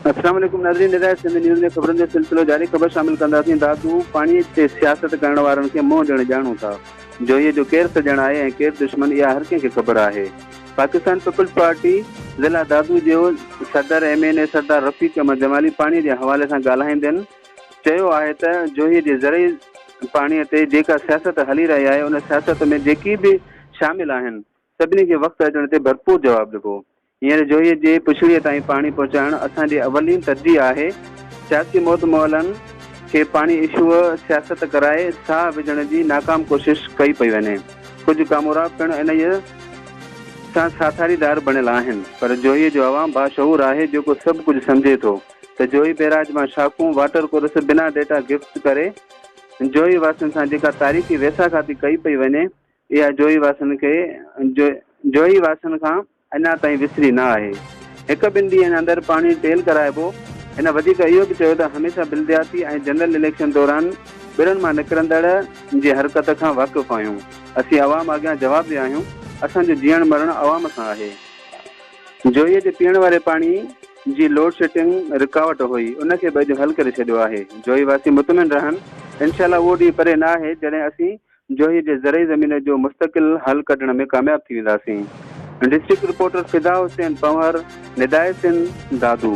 السلام عليڪم ناظرين نظر سنڌ نيوز ۾ خبرن جو سلسلو جاري خبر شامل ڪنداسين دادو پاڻي تي سياست ڪرڻ وارن کي منهن ڏيڻ ڄاڻون ٿا جوهي جو ڪير سڄڻ آهي ۽ ڪير دشمن اها هر ڪنهن کي خبر آهي پاڪستان پيپلز پارٽي ضلع دادو جي صدر M N A Sardar Rafiq Ahmed Jamali پاڻي جي حوالي سان ڳالهائيندين چيو آهي ته جوهي جي زرعي پاڻي تي جيڪا سياست هلي رهي آهي ان سياست ۾ جيڪي به شامل آهن سڀني کي وقت اچڻ تي ڀرپور جواب ڏبو هينئر جوهي جي پڇڙي تائين پاڻي پهچائڻ اسان جي اولين ترجيح آهي سياسي مودمعلن کي پاڻي اشوء سياست ڪرائي ساهه وجهڻ جي ناڪام ڪوشش ڪئي پئي وڃي ڪجهه ڪامورا پڻ انهيء سان ساٿاريدار بڻيل آهن پر جوهي جو عوام باشعور آهي جيڪو سڀ ڪجهه سمجهي ٿو ته جوهي بيراج مان شاخون واٽر ڪورس بنا ڊيٽا گفٽ ڪري جوهي واسين سان جيڪا تاريخي ويساکاتي ڪئي پئي وڃي اها جوهي واسين کي جوهي واسين کان اڃا تائين وسري نه آهي هڪ ٻن ڏينهن اندر پاڻي ٽيل ڪرائبو هن وڌيڪ اهو به چيو ته هميشه بلدياتي ۽ جنرل اليڪشن دوران ٻرن مان نڪرندڙ جي حرڪت کان واقف آهيون. اسين عوام اڳيان جوابده آهيون، اسان جو جيئڻ مرڻ عوام سان آهي. جويي جي پيئڻ واري پاڻي جي لوڊ شيٽنگ رڪاوٽ هئي، ان کي به اڄ حل ڪري ڇڏيو آهي. جويي واسي مطمئن رهن، انشاء الله اهو ڏينهن پري نه آهي جڏهن اسين جويي جي زرعي زمين جو مستقل حل ڪڍڻ ۾ ڪامياب ٿي وينداسين. District reporter Fida Hussain Panhwar, Nidai Sindh, Dadu.